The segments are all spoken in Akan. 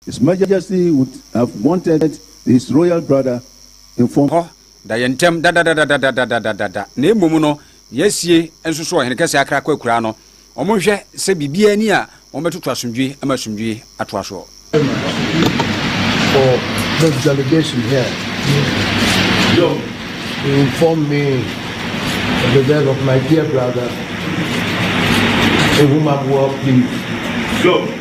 His Majesty would have wanted his royal brother informed. Hɔ da yɛn ntam dadadadadadadadadada, na mmom no yɛasie nso so Ɔhene Kɛseɛ Akrakɔ Akuraa no, wɔnhwɛ sɛ biribiara nni a wɔbɛtoto asomdwoe ma asomdwoe atoa soɔ. for this delegation here to inform me of the death of my dear brother Ehumabua Plim.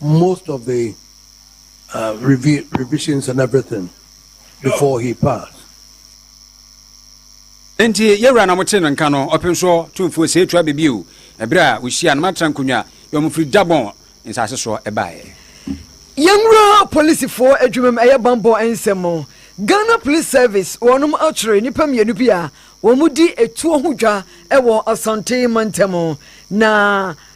most of the revisions and everything before he passed. Enti yɛwura na mote no nka no ɔpem soɔ tumfoɔ sɛ ɛtua bɛ bio ɛberɛ a wɔhyia no matra nkonnwa yɛ ɔmo firi Gabon nsase soɔ ɛbaeɛ. Yɛnwura polisifoɔ adwumam ɛyɛ bammɔ nsɛm. Ghana Police Service wɔnom akyere nnipa mmienu bi a wɔn di ɛtuo ho dwa wɔ Asante mantam na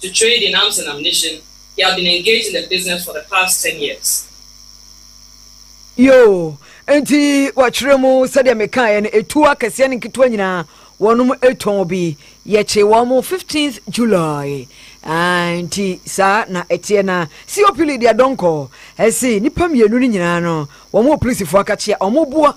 to trade in arms and ammunition, he had been engaged in the business for the past ten years. Yoo, nti wɔkyerɛ mu sɛdeɛ mekaeɛ no ɛtuo akɛseɛ ne nketewa nyinaa wɔnom ɛtɔn bi yɛkye wɔn mo 15th July ah, nti saa na ɛteɛ na COP Lydia Donkor ɛse nnipa mmienu no nyinaa no wɔn wɔ polisifoɔ akakyea wɔn boa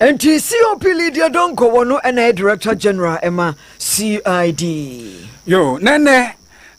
Nti COP Lydia Donkor wɔ no ɛna yɛ Director General ɛma CID. Yo, na nnɛ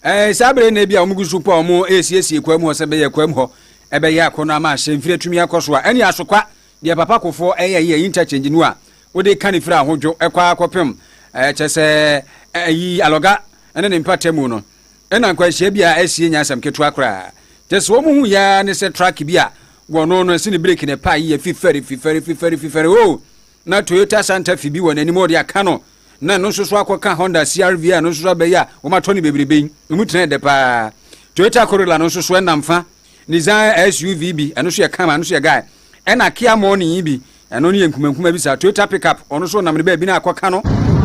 eh, saa bere na ebi a wɔn gu so po a wɔn resiesie kwa mu hɔ sɛ bɛyɛ kwa mu hɔ ɛbɛyɛ akɔnɔ ama ahyɛnfiri atumi akɔ so a ɛne asokwa deɛ papa kofoɔ ɛyɛ yi ɛyi interchange no a wode ka ne firi ahodwo ɛkɔ akɔpem ɛkyɛ sɛ ɛyi alɔga ɛne ne mpatamu no Nna nkwanhyia bi a asie nyɛ asɛm ketewa koraa. Kyerɛ sɛ, wɔn hu yɛ ara ne sɛ truck bi a wɔno no ɛse ne breki na ɛpae yɛ fifɛre, fifɛre, fifɛre, fifɛre. Oo! Ná Toyota Santa Fe bi wɔ n'anim a wɔde aka no, na ɛno nso so akɔka Honda CR-V a ɛno nso so aba yi a wɔatɔ no bebrebe yi. Emu tena yɛ dɛ paa. Toyota Corolla no nso so ɛnam fa. Nissan SUV bi, ɛno nso yɛ kama, ɛno nso yɛ guy. Ɛnna Kia Morning yi bi, ɛno no yɛ nkumankuma bi saa. Toyota Pickup, ɔno nso wɔnam no baabi na akɔka no.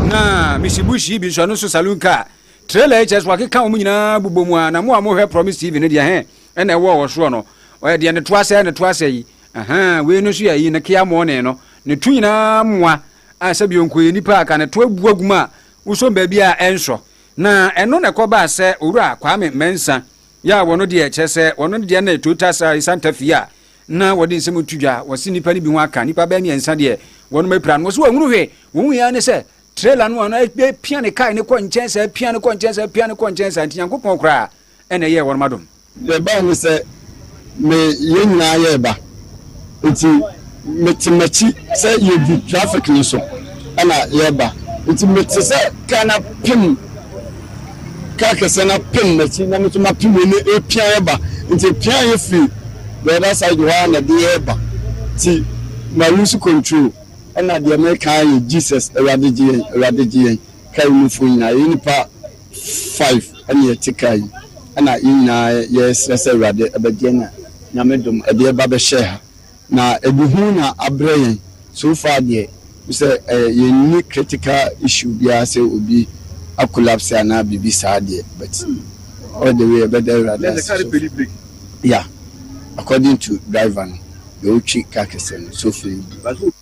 Na Mitsubushi yi bi nso, ɛno nso saloon car. Trailer yi kyerɛ sɛ wakeka wɔn nyinaa bobɔ mu a na mo a mo hwɛ promise TV no deɛ hɛn ɛna ɛwɔ wɔ soɔ no ɔyɛ deɛ ne to asɛɛ ne to asɛɛ yi ahaa wei no nso yɛ ayi ne kea morning no ne to nyinaa moa a sɛ bio nko yɛ nipa a ka ne to abu agu mu a wosom baabi a ɛnsɔ na ɛno na ɛkɔ baa sɛ owura Kwame Mensah yɛ a wɔn deɛ kyerɛ sɛ wɔn no deɛ ne Toyota Sari Santa Fe a na wɔde nsɛm to dwa wɔse nipa no bi ho aka nipa bɛɛ mmiɛnsa deɛ wɔn apira no wɔse wɔn hunu hwee wɔn hu yɛ ne sɛ trailer no a na apia ne kae no kɔ nkyɛn saa apia no kɔ nkyɛn saa apia no kɔ nkyɛn saa nti nyankopɔn koraa ɛna ɛyɛɛ wɔnom adom. Deɛ ɛbae ne sɛ me yɛn nyinaa yɛ reba nti me te makyi sɛ yɛdi traffic no so ɛna yɛreba nti me te sɛ car no apem car kɛseɛ no apem makyi na me nso mapem wei ne ɛpia yɛba nti ɛpia yɛ firi the other side hɔ a na ɛde yɛreba nti ma lose control. Ɛna deɛ mereka ara yɛ Jesus, Awurade gye yɛn, Awurade gye yɛn. Kaa yi mu foɔ nyinaa, yɛyɛ nnipa five ɛna yɛte kaa yi, ɛna yɛn nyinaa yɛresrɛ sɛ Awurade bɛgye yɛn na Nyame dom ɛde yɛn ba bɛhyɛɛ ha. Na ɛde hu na abrɛ yɛn, so far deɛ wohu sɛ yɛnni critical issue biara sɛ obi a collapse anaa biribi saa deɛ but all the way yɛbɛda Awurade ase so far. Yeah, according to driver no. Beotwi Kakesem Sofi Badu.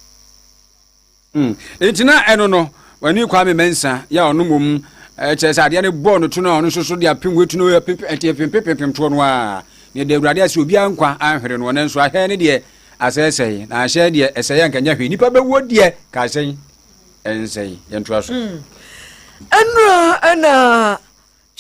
Hmm. Enti na ɛno no, wani Kwame Mensa, yɛ ɔno mmom kyerɛ sɛ adeɛ no bɔɔ no to no a ɔno nso so de apem watu no ɛnti ɛpempepempem toɔ no a ne ɛda awurade ase obiara nkwa anhwere no ɔno nso ahwɛ ne deɛ asɛesɛe na ahyɛ deɛ ɛsɛe anka nyɛ hwee nnipa bɛwuo deɛ ka asɛe ɛnsɛe yɛntoa so hmm. ɛnura ɛna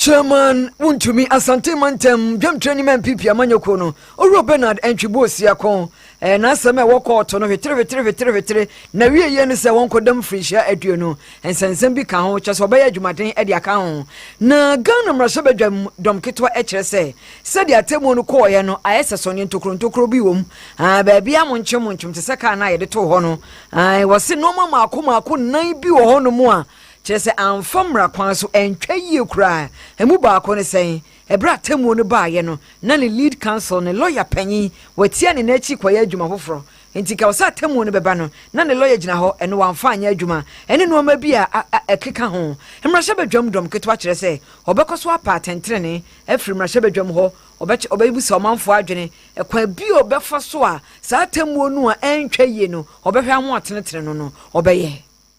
Chairman Wontumi, Asante Mantam Dwamtrani ma NPP Amanyɔkuo no, Owura Bernard Antwibu Osiakon, ɛyɛ n'asɛm a ɛwɔ kɔɔto no hwetere hwetere hwetere hwetere, n'awieeɛ ne sɛ wɔnkɔda mfirinhyia aduonu, nsɛnsɛm bi ka ho, kyerɛ sɛ wɔbɛyɛ adwumaden de aka ho. Na Ghana mmarahyɛbadwam dɔm ketewa kyerɛ sɛ, sɛdeɛ atemmuo no kɔeɛ no, ayɛ sɛ sɔneɛ ntokuro ntokuro bi wom, ae, baabiara monkye montwom te sɛ car no a yɛde too hɔ no, ae, wɔse nnoɔma mmaako mmaako nnan bi wɔ hɔnom a, Kyerɛ sɛ amfa mmara kwan so antwa yie koraa. Ɛmu baako ne sɛn? Ɛberɛ a atemmuo no baeɛ no, na ne lead counsel, ne lɔya panin, watia ne nan akyi kɔyɛ adwuma foforɔ. Enti ka wo sɛ atemmuo no bɛba no, na ne lɔya gyina hɔ, ɛno wamfa anyɛ adwuma, ɛne nnoɔma bi a a ɛkeka ho. Mmarahyɛbadwam dɔm ketewa kyerɛ sɛ wɔbɛkɔ so apa atɛntenenee afiri mmarahyɛbadwam hɔ, wɔbɛkyɛ, wɔbɛbusa ɔmanfoɔ adwene, ɛkwan bi a wɔbɛfa so a saa atemmuo no a antwa yie no wɔbɛhwɛ ahoɔtenetene no no wɔbɛyɛ.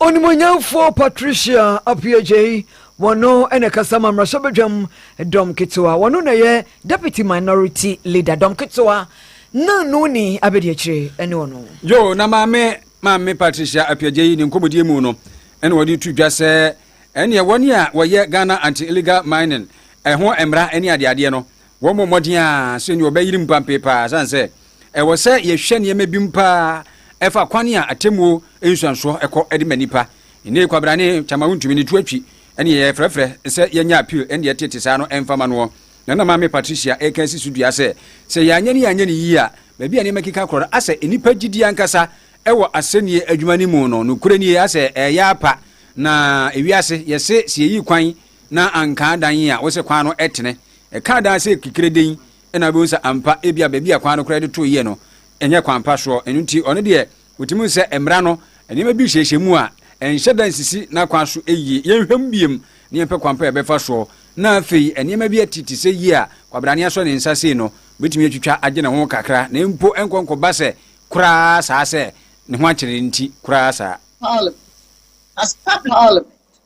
Onimuonyamfoɔ Patricia Appiah-Jay, wɔno na ɛkasa ma mmarahyɛbadwam dɔm ketewa, wɔno na ɛyɛ Deputy Minority Leader dɔm ketewa na Noni Abɛdiakyire ɛne ɔno. Yo, na maame maame Patricia Appiah-Jay ne nkɔmmɔdie mu no ɛna wɔde tu dwa sɛ ɛneɛ wɔn a wɔyɛ Ghana Anti-Illegal Mining ɛho mmara ɛne adeadeɛ no Wɔbɔ mmɔden ara sɛ nea wɔbɛyere mu pampee paa esiane sɛ ɛwɔ sɛ yɛhwɛ nneɛma binom paa ɛfa kwan a atemmuo nsuansoɔ kɔ de ma nnipa. Nnei kwabrane, kyama wontumi ne to atwi, ne yɛfrɛfrɛ sɛ yɛnyɛ appeal ne deɛ ɛtete saa no mfa ma noɔ. Na na Maame Patricia reka asi so dua sɛ, sɛ yɛanyɛ ne yɛanyɛ no yie a, baabi a nneɛma keka korɔ no asɛ nnipa gyidie ankasa wɔ asɛnnie adwuma no mu no, nokorɛ nie asɛ ɛreyɛ apa na ewiase yɛse sɛ yɛyi kwan na anka adan yi a wosɛ kwan no tene. Ɛka adan sɛ kekere den na wobɛhu sɛ ampa ebi a baabi a kwan no koraa de too yie no ɛnyɛ kwan pa soɔ. Ɛno nti ɔno deɛ wɔtumi sɛ mmara no nneɛma bi hyehyɛ mu a ɛnhyɛ da nsisi n'akwan so yie. Yɛnhwɛ mu biem na yɛmpɛ kwan pa a yɛbɛfa soɔ. Na afei nneɛma bi ati te sɛ yie a kwabrane asɔ ne nsa sei no, ɔbɛtumi atwitwa agye ne ho kakra na mpo ɛnkɔ nkɔba sɛ koraa saa sɛ ne ho akyere nti koraa saa. Parliament, As per Parliament,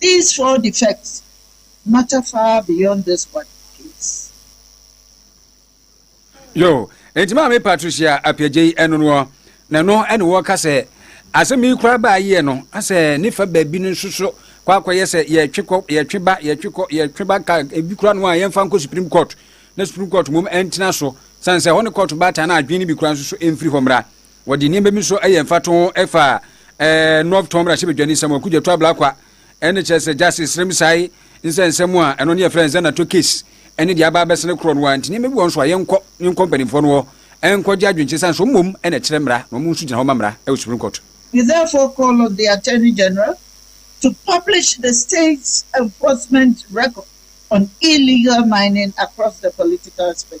These four defects matter far beyond this one case. Yo, enti maame Patricia Apiagyei ɛno noɔ, na ɛno ɛne wɔka sɛ asɛm yi koraa baa yie no asɛ ne fa baabi no nso so kɔ akɔyɛ sɛ yɛtwe kɔ yɛtwe ba yɛtwe kɔ yɛtwe ba ka ebi koraa no a yɛmfa nkɔ Supreme Court na Supreme Court mmom ɛntena so sane sɛ hɔ ne court baatan na adwene no bi koraa nso so ɛmfiri hɔ mmra Wɔde nneɛma bi nso yɛ mfatoho fa North Tom Rahyɛbadwani nsɛm a Kudjatu Ablakwa ne kyerɛ sɛ Justice Sremsai nsɛ nsɛm a ɛno ne yɛfrɛ no Zanato case ne deɛ aba abɛsɛ no korɔ no a nti nneɛma bi wɔ nso a yɛnkɔ yɛnkɔ mpanimfoɔ no hɔ ɛnkɔgye adwenkyerɛ sane sɛ mmom ɛna ɛkyerɛ mmara na wɔn nso gyina hɔ ma mmara ɛwɔ Supreme Court. He therefore called on the Attorney General to publish the state's enforcement record on illegal mining across the political spectrum.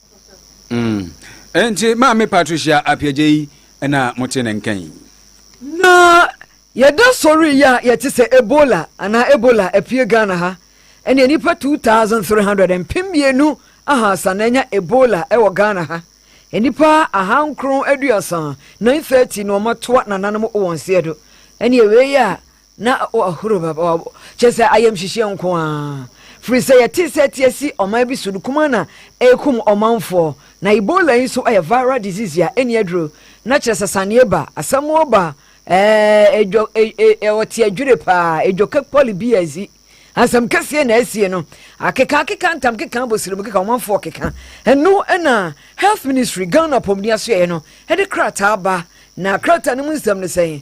Mm. Enti Maame Patricia Appiah Gyei na mote ne nka yi. Na yɛda sɔre yi a yɛte sɛ Ebola anaa Ebola apue Ghana ha ɛneɛ nipa 2300 mpem mmienu ahaasa na anya Ebola wɔ Ghana ha nnipa ahankron aduasa 930 na wɔatoa nananom wɔn seɛ do ɛneɛ wei a na wahuru papa wabɔ kyɛ sɛ ayamhyehyeɛ nko ara firi sɛ yɛte sɛ ɛte asi ɔman bi so no kumaa na ɛrekum ɔmanfoɔ na ebola yi nso yɛ viral disease a ɛnni aduro na kyerɛ sɛ saneɛ ba asɛm ba ɛɛ edwo ɛɛ ɔte adwiri paa edwo kekpɔli bi azi asɛm kɛseɛ na asie no akeka akeka ntam keka abosirimu keka ɔmanfoɔ keka ɛno ɛna health ministry ghana apɔmuden asoɛɛ no ɛde krataa ba na krataa no mu nsɛm no sɛn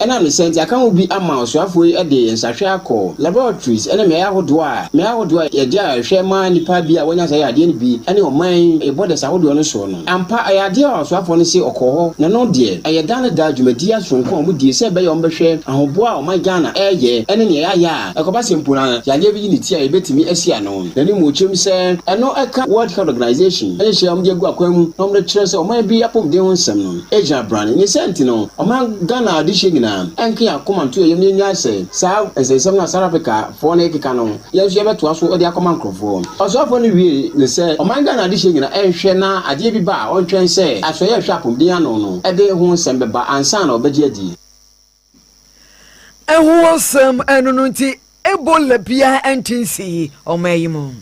Ɛnam ne saa nti, aka ho bi ama ɔsoafoɔ yi de nsrahwɛ akɔ laboratories ne mmeaeɛ ahodoɔ a mmeaeɛ ahodoɔ a yɛde a ɛhwɛ ma nnipa bi a wɔanya saa yadeɛ no bi ne ɔman yi borders ahodoɔ no soɔ no. Ampa, ɛyɛ adeɛ a ɔsoafoɔ no se ɔkɔɔ hɔ na ɛno deɛ ɛyɛ daa ne daa dwumadie asoronko a wɔdie sɛ ɛbɛyɛ a wɔbɛhwɛ ahoboa a ɔman Ghana reyɛ ne nea yɛayɛ a ɛkɔba sɛ mpo na yadeɛ bi yi ne ti a yɛbɛtumi asi ano. N'animuokyerɛm sɛ ɛno ɛka World Health Organization nhyehyɛeɛ a wɔde agu akwan mu na wɔde kyerɛ sɛ ɔman bi apɔmuden ho nsɛm no. gyina brane. Ne saa nti no, ɔman Ghana adehyeɛ nyinaa nka yɛn akoma nto yɛn yam na yɛnnyae sɛ saa nsɛnsɛm no a South Africa foɔ no rekeka no, yɛn nso yɛbɛtoa so de akɔma nkorɔfoɔ. Ɔsoafoɔ no wiee ne sɛ ɔman Ghana adehyeɛ nyinaa nhwɛ na adeɛ bi ba a ɔntwɛn sɛ asoɛeɛ a ɛhwɛ apomden ano no de ho nsɛm bɛba ansa na wɔbɛgye adi. Ɛho asɛm ɛno no nti Ebola biara nte nsii ɔman yi mu.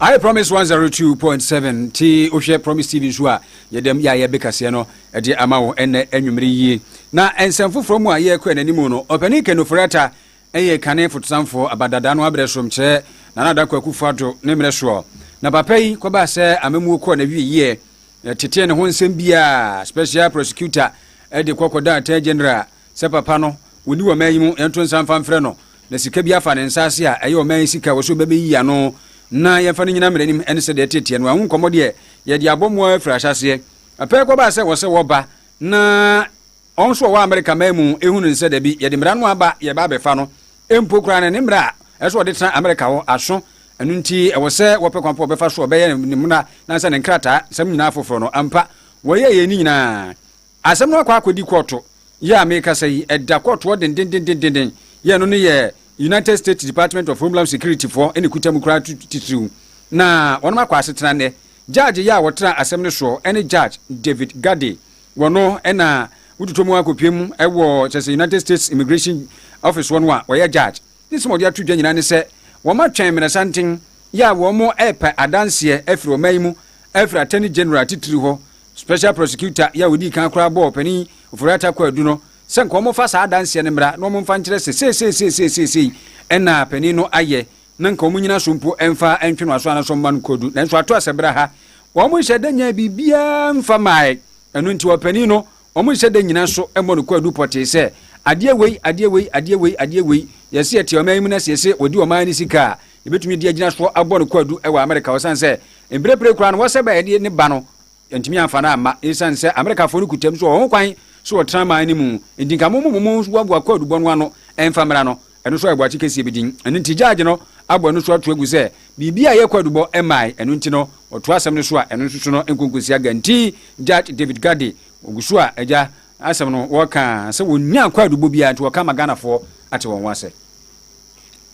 I promise 102.7 ti wohwɛ promise tv nso a yɛdɛm yɛ a yɛbɛkaseɛ no ɛde ama wo ɛnɛ anwummere yie na nsɛm foforɔ mu a yɛrekɔ yɛn anim no ɔpani kanofori ata ɛyɛ kane fotosanfoɔ abadada no abrɛ sorom kyerɛ nana adakɔ akufo ado ne mmerɛ soɔ na papa yi kɔbaa sɛ amamuo kɔɔ na wie yie Yɛtetee ne ho nsɛm biara a Special Prosecutor de kɔ kɔda Attorney General a sɛ papa no wɔnni ɔman yi mu, yɛnto nsa mfa mfrɛ no na sika bi afa ne nsa ase a ɛyɛ ɔman yi sika a ɔwɔ sɛ ɔbɛbɛyiyi ano na yɛmfa no nnyina mmara anim ne sɛdeɛ ɛtee teɛ no a. Ho nkɔmmɔ deɛ yɛde abɔ mu ara firi ahyɛaseɛ. Pɛ kɔbaa sɛ wɔ sɛ wɔba na. Ɔn so ɔwɔ Amerika man mu ehu no nsɛ dabi yɛde mmara no aba yɛba abɛfa no mpo koraa no ne mmara a ɛsɛ ɔde tena Amerika hɔ aso ɛno nti ɛwɔ sɛ wɔpɛ kwan pa ɔbɛfa so ɔbɛyɛ ne mmra nansa ne nkrataa nsɛm nyinaa foforo no ampa wɔyɛ yɛn ne nyinaa asɛm no akɔ akɔdi kɔɔto yɛ a mekasa yi ɛda kɔɔto hɔ dendendendenden yɛ ɛno no yɛ United States Department of Homeland Security foɔ ɛne kuta mu koraa titiriw na wɔnom akɔ asetena nɛ judge yɛ a wɔtra asɛm no soɔ ɛne judge David Gade Wɔ no na wototɔ mu akɔpue mu wɔ kyerɛ sɛ United States Immigration Office hɔ no a wɔyɛ judge ne nsɛm a wɔde ato dwa nyinaa ne sɛ wɔatwɛn mmerɛsanten yɛ a wɔrepɛ adanseɛ afiri ɔman yi mu afiri Attorney General titiri hɔ Special Prosecutor yɛ a ɔdii kan koraa bɔɔ Ɔpanin Ofori-Atta Kuadu no sɛ nka wɔmfa saa adanseɛ no mmra na wɔmfa nkyerɛ sɛ seesei seesei seesei na panin no ayɛ na nka wɔnnyina so mpo mfa ntwe no aso anaasɛ ɔmma no kodu. Nanso ato asɛbra ha, wɔnhyɛ da nyae biribiara mfa mae. Ɛno nti ɔpanin no, wɔnhyɛ da nnyina so mmɔ no kwaadu pɔtee sɛ, Adeɛ wei, adeɛ wei, adeɛ wei, adeɛ wei. Yɛse yɛte ɔman yi mu na sɛ yɛse wɔdi ɔman no sika a, yɛbɛtumi de agyina so abɔ no kwaadu wɔ Amerika hɔ ɛsiane sɛ mprempren koraa no wɔsɛba a yɛde ne ba no yɛntumi amfa no amma ɛsiane sɛ Amerikafoɔ no kuta mu sɛ wɔwɔ ho kwan sɛ wɔtena man no mu. Enti nka mo mo mo mmoaboa kwaadubɔ no ano mfa mmra no. Ɛno nso ayɛ boakye kɛseɛ bi den. Ɛno nti gyaagy no abɔ ɛno nso ato agu sɛ biribi a ɛyɛ kwaadubɔ mmae. Ɛno nti no ɔtoa asɛm no so a ɛno nso so no nkonkonsia guantee Judge David Gadde. Ɔgu so a agya asɛm no wɔka sɛ wɔnnya kwaadubɔ biara nti wɔka ama Ghanafoɔ ate wɔn ho asɛ.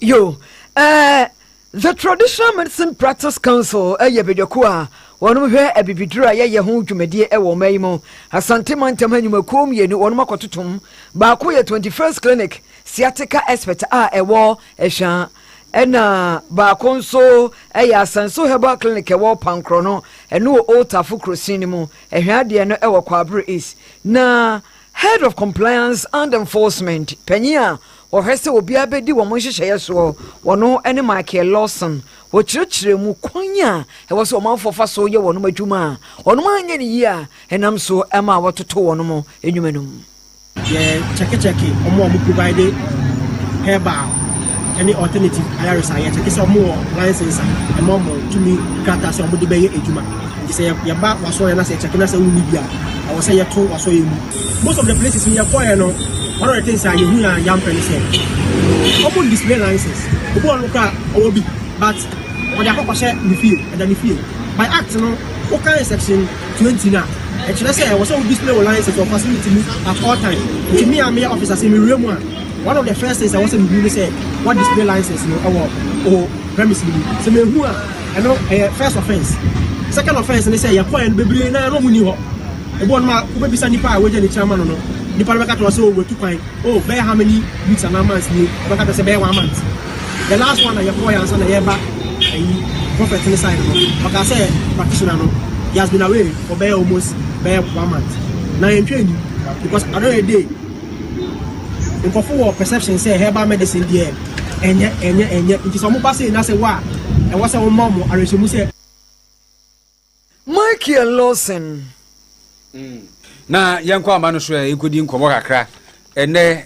Yoo, ɛɛ The Traditional Medicine Practice Council yɛ badwakuo a wɔnom hwɛ abibiduro a yɛyɛ ho dwumadie wɔ ɔman yi mu. Asante mantam ha nnwumakuo mmienu wɔnom akɔtotom. Baako yɛ Twenty First Clinic Sciatica Expert a ɛwɔ Ɛhwa ɛna baako nso yɛ Asanso Herbal Clinic ɛwɔ Pankorɔno, ɛno wɔ Old Tafo kurosin no mu. Ɛhwa deɛ no wɔ Kwabre East na Head of Compliance and Enforcement, Panyin a ɔhwɛ sɛ obiara bedi wɔn nhyehyɛeɛ soɔ, wɔn ne Michael Lawson. Wɔkyerɛkyerɛɛ mu kwan a ɛwɔ sɛ ɔmanfoɔ fa so yɛ wɔn adwuma a wɔn anyɛ no yie a ɛnam so ma wɔtoto wɔn nnwuma no mu. Yɛ kyɛkekyɛke wɔn a wɔn provide herbal ne alternative ayaresayɛ, kyɛke sɛ wɔn wɔ license a ɛma wɔn tumi krataa sɛ wɔn de bɛyɛ adwuma. Nti sɛ yɛba w'asɔreɛ na sɛ yɛkyɛke na sɛ wonni bi a, ɛwɔ sɛ yɛto w'asɔreɛ mu. Most of the places no yɛkɔeɛ no, one of the things a yɛhui a yɛampɛ ne sɛ wɔn display license. Obi wɔ hɔ no koraa a, ɔwɔ bi but ɔde akɔ akɔhyɛ ne fie, ɛda ne fie. By act no, wokan section 20 no a, ɛkyerɛ sɛ ɛwɔ sɛ wo display wo license wɔ facility mu at all time. Nti me a meyɛ officer, sɛ mewura mu a, one of the first things a ɛwɔ sɛ mehu ne sɛ woadisplay license no wɔ wo premise no mu. Sɛ manhu a, Ɛno ɛyɛ first offence. Second offence ne sɛ yɛkɔɛ no bebree naa na ɔmo nni hɔ. Ebi wɔ nom a wobebisa nipa a wagya ne tiri ama no no, nipa no bɛka kyerɛ wo sɛ oh watu kwan, oh bɛyɛ how many weeks anaa months nie, ɔbɛka kyerɛ wo sɛ bɛyɛ one month. The last one a yɛkɔɔɛ ansa na yɛɛba ayi prophet ne side no, ɔkaa sɛ practitioner no he has been away for bɛyɛ almost bɛyɛ one month. Na yɛntwa anni because another day Nkorɔfo wɔ perception sɛ herbal medicine deɛ ɛnyɛ ɛnyɛ ɛnyɛ nti sɛ ɔmo ba sei na sɛ wo a ɛwɔ sɛ wo ma ɔmo awerɛhyɛmu sɛ. Michael Lawson. Na yɛnkɔ ama no so ɛ yɛkɔdi nkɔmmɔ kakra ɛnɛ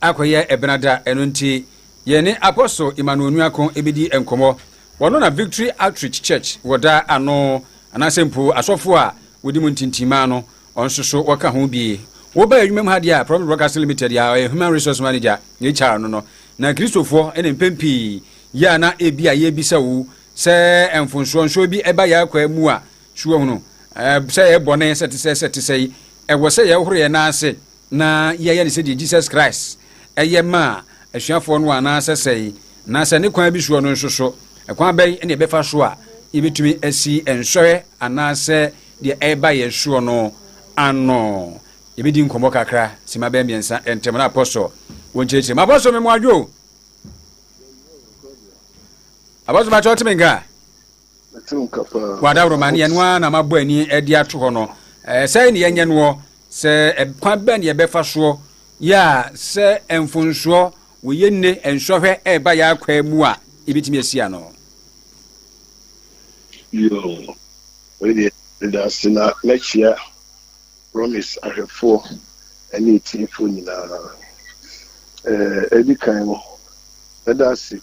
akɔyɛ ɛbenada ɛno nti yɛne Apostle Emmanuel Nuako ɛbɛdi nkɔmmɔ wɔno na Victory Outreach Church wɔ da ano anaasɛ mpo asɔfo a wɔdi mu ntintimaa no Ɔnsoso wɔka ho bi. Woba adwumam ha deɛ a, Promise Broadcasting Limited a ɔyɛ Human Resource Manager, HR, no no na Kristofoɔ ne mpɛn pii yɛ a na ebia yɛbisa wo sɛ mfonsoɔ nsoɔ bi ɛba yɛn akwaa mu a. So woahunu sɛ ɛyɛ bɔne sɛ te sɛ sɛ te sɛi? Ɛwɔ sɛ yɛhohoro yɛn nan ase na yɛyɛ no sɛdeɛ Jesus Christ yɛ maa asuafoɔ no anaasɛ sɛi? Na sɛ ne kwan bi soɔ no nso so, ɛkwan bɛn na yɛbɛfa so a yɛbɛtumi asi nsɔhwɛ anaasɛ Deɛ ɛreba yɛn soɔ no ano. Yɛbɛdi nkɔmmɔ kakra, sima bɛyɛ mmiɛnsa ntam na Apostle wɔnkyerɛkyerɛ mu. Apostle me mmoadwo o. Apostle bakyɛ ɔte me nka. Wɔadaworoma ne ɛno ara na mabɔ ani de ato hɔ no. Sɛe ne yɛnyɛ noɔ sɛ kwan bɛn ne yɛbɛfa soɔ yɛ a sɛ mfonsoɔ Wɔyɛ nnɛ nsɔhwɛ ɛreba yɛn akwaa mu a, yɛbɛtumi asi ano. Yoo wei deɛ meda ase na mɛkyea promise ahwɛfoɔ ɛne atiefoɔ nyinaa ɛɛ ɛdi kan no mɛda ase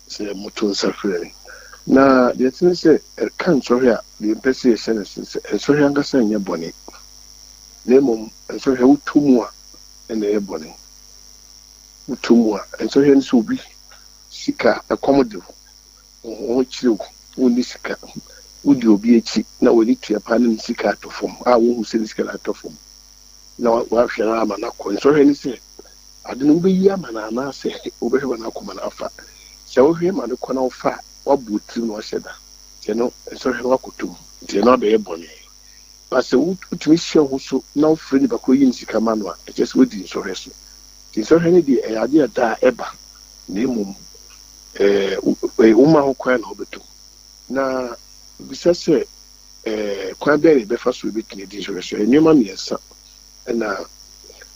sɛ moto nsa frɛ me na deɛ ɛte ne sɛ ɛka nsɔhwɛ a deɛ mpɛ sɛ yɛhyɛ no sɛ sɛ nsɔhwɛ ankasa nyɛ bɔne na mmom nsɔhwɛ wotɔ mu a ɛna ɛyɛ bɔne woto mu a, nsɔhwɛ no sɛ obi sika, ɛkɔm de wo, wo ho kyere wo, wonni sika, wodi obi akyi na w'ani tua paa na ne sika atɔ fam a wonhu sɛ ne sika no atɔ fam na woahwɛ no ama no akɔ. Nsɔhwɛ ne sɛ ade no wobɛyi ama no anaasɛ wobɛhwɛ ma no akɔ ma no afa. Sɛ wohwɛ ma no kɔ na wofa a, woabɔ wo tirim na woahyɛ da nti ɛno nsɔhwɛ no woakɔtɔ mu nti ɛno abɛyɛ bɔne. Na sɛ wotumi hyɛ wo so na wofrɛ nipa koro yi ne sika ma no a, ɛkyerɛ sɛ woadi nsɔhwɛ so. Nti nsɔhwɛ no deɛ, ɛyɛ adeɛ a daa ɛba, na mmom ɛɛ woma ho kwan na wobɛtɔ mu. Na bisa sɛ, ɛɛ kwan bɛn na yɛbɛfa so yɛbɛtumi adi nsɔhwɛ so? Nneɛma mmiɛnsa na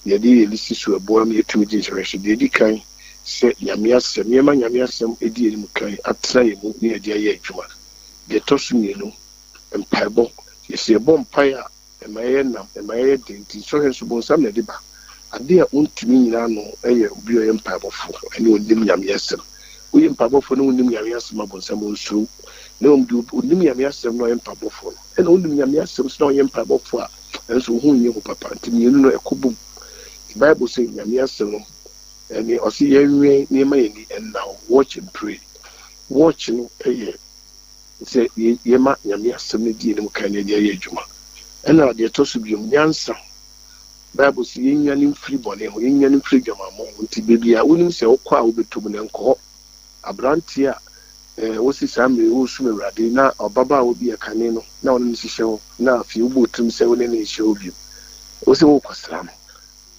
yɛde yɛ lisi so a ɛboa ma yɛtumi di nsɔhwɛ so. Deɛ ɛdi kan, sɛ Nyame asɛm, yɛma Nyame asɛm di yɛn anim kan, atena yɛn mu na yɛde ayɛ adwuma. Deɛ ɛtɔ so mmienu. mpaebɔ. Yɛsɛ yɛbɔ mpae a, ɛma yɛyɛ nam, ɛma yɛyɛ den. Nti nsɔhwɛ nso bonsam na ɛde ba. Ade a ontumi nyina ano yɛ obi a ɔyɛ mpaebɔfo ne onnim Nyame asɛm. Woyɛ mpaebɔfo na wonnim Nyame asɛm a, bonsam onsuro wo. Na mmom deɛ onim Nyame asɛm na ɔyɛ mpaebɔfo no, ɛna wonim Nyame asɛm nso na wonyɛ mpaebɔfo a, ɛnso wo ho nyɛ hu papa. Nti mmienu no ɛkɔ bom. Nti Bible se Nyame asɛm no, ɛne ɔse yɛnwɛn na yɛmma yɛn ani nnaw, watch and pray. Watch no yɛ. sɛ yɛma Nyame asɛm no di yɛn anim kan na yɛde ayɛ adwuma. Ɛna deɛ ɛtɔ so biom, nyansa. Bible se yɛnwane mfiri bɔne ho, yɛnwane mfiri adwamammɔ ho. Nti baabi a wonim sɛ wokɔ a wobɛtɔ mu no, nkɔ hɔ. Aberanteɛ a eh, wosi saa mmerɛ yi woresom Awurade na ɔbabaawa bi yɛ kane no na ɔne no hyehyɛ hɔ na afei wobɔ wo tirim sɛ wo ne no nhyɛ hɔ biom. Wo sɛ worekɔsra no.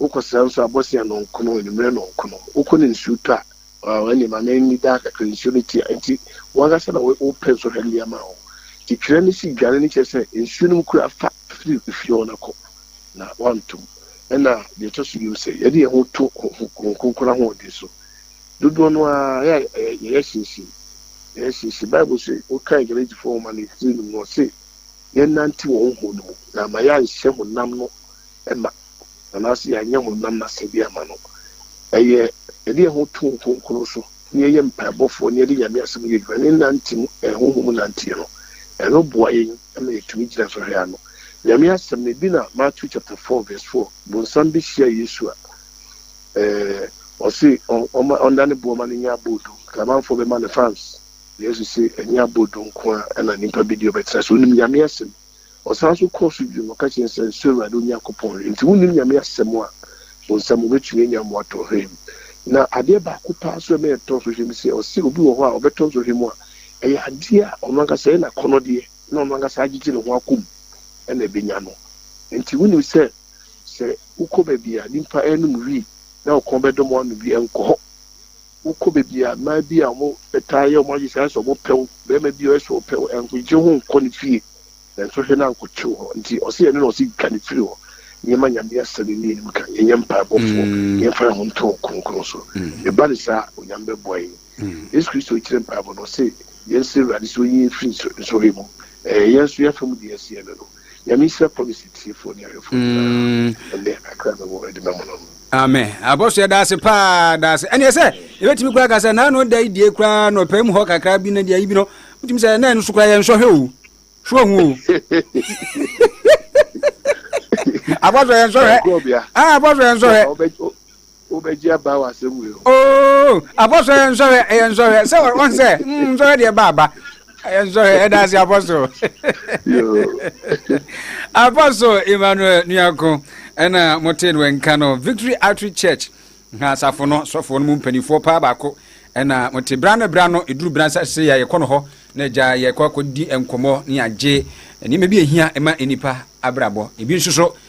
Wokɔsra nso a, bɔsea nɔnko no, anwummerɛ nɔnko no. Wokɔ no nsuo tɔ a, Wow ɛne ma me nni daa kakra nsuo no tia nti wankasa na wo pɛ nsɔhwɛ no de ama wo nti twerɛ no si dwane no kyerɛ sɛ nsuo no mu koraa fa firi fie hɔ no kɔ na wantom ɛna deɛ ɛtɔ so biom sɛ yɛde yɛn ho to Honhom Kronkron ahoɔden so dodoɔ no ara yɛyɛ hyinhyin yɛyɛ hyinhyin Bible se wo kan Galatifoɔ nwoma no tiri no mu ɔse yɛn nante wɔ Honhom no mu na ama yɛanhyɛ honam no ma. anaasɛ yɛanyɛ honam no asɛdeɛ amma no, ɛyɛ yɛde yɛn ho to Honhom Kronkron so na yɛyɛ mpaebɔfoɔ na yɛde Nyame Asɛm yɛ adwuma na yɛnante mu, Honhom mu nanteɛ no, ɛno boa yɛn ma yɛtumi gyina sɔhwɛ ano. Nyame Asɛm no, ebi na Matthew chapter four verse four, Bonsam bɛhyia Yesu a, ɛɛ, ɔse ɔma ɔnda ne boɔ ma no nyɛ abɔ odum, Kramanfoɔ bɛma no fans, Yesu se ɛnyɛ abɔ odum nko ara na nipa bɛdi ɔbɛtena ase, onim Nyame Asɛm. Ɔsan nso kɔɔ so bio na ɔka kyerɛɛ no sɛ, Nsuro Awurade wo Nyankopɔn hwee. Enti wonnim nyame asɛm a wo nsam wobɛtumi anya mmoa tɔ hwee mu. Na adeɛ baako paa nso a ɛma yɛtɔ so hwee mu sɛ, ɔse obi wɔ hɔ a ɔbɛtɔ nso hwee mu a, ɛyɛ adeɛ a ɔno ankasa ɛyɛ n'akɔnnɔdeɛ na ɔno ankasa agyegye ne ho akɔ mu na ɛbɛnya no. Enti wonim sɛ, sɛ wokɔ baabi a nnipa renom wii na wo kɔn bɛdɔ ma woanom bi, nkɔ hɔ. wokɔ baabi a mmaa bi a wɔtaa yɛ wɔn adesɛe sɛ wɔpɛ wo, barima bi a ɔyɛ sɛ ɔpɛ wo, nkogye ho nkɔ ne fie, nanso hwɛ na ankɔte wo hɔ. Nti ɔse ɛno na ɔse twa no firi hɔ. Nneɛma Nyame asɛm yi ne yɛnim ka, yɛnyɛ mpaebɔfoɔ na yɛmfa yɛn ho nto Ɔkronkron so. Ɛba no saa a, Onyame bɛboa yɛn. Yesu Kristo kyerɛ mpaebɔ no, ɔse yɛnsrɛ Awurade sɛ ɔnyi yɛn mfiri nsɔhwɛ mu. Ɛɛ, yɛn nso yɛn afa mu deɛ yɛse yɛbɛ no. Nyame nhyira policy tiefo ne ahwɛfo nyinaa. Ɛnde akra na wɔ ɛde mɛmo no. Amen. Abɔso yɛ daase paa daase. Ɛne sɛ ebetumi kura kasa na ano da idie kura no pɛ mu hɔ kakra bi na deɛ ibi no. Wotumi sɛ na ɛno so kura yɛ nsɔhwɛ o. Hwɛ hu o. Abɔso yɛ nsɔhwɛ. Ah abɔso yɛ nsɔhwɛ. wobɛgye aba wɔ asɛm wei ho. Oo apɔso ɛyɛ nsɔhwɛ ɛyɛ nsɔhwɛ sɛ ɔn sɛ mm nsɔhwɛ deɛ ba aba ɛyɛ nsɔhwɛ ɛda ase apɔso apɔso Emmanuel Nuako ɛna mo te no nka no Victory Outreach Church ha asafo no sɔfo no mu mpanimfoɔ paa baako ɛna mo te bra no bra no eduru bra nsa se yɛ yɛkɔ no hɔ na agya yɛkɔ akɔdi nkɔmɔ ne agye nneɛma bi ehia ɛma nipa abrabɔ ebi nso so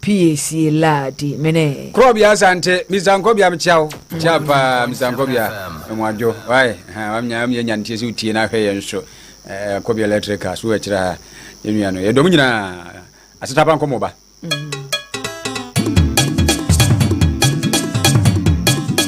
Piesie laa di menee. Krɔbea Asante, Mister Nkɔbea me kyia wo, kyia paa Mister Nkɔbea, ɛmu adwo, wai, ha, wamnya, wamnya nya ntie sɛ wotie na ahwɛ yɛn so, eh, Nkɔbea Electrical, so ɛkyerɛ ha, yɛn nua no, yɛdɔm nyina, asetapa nkɔmɔ ba. Mm.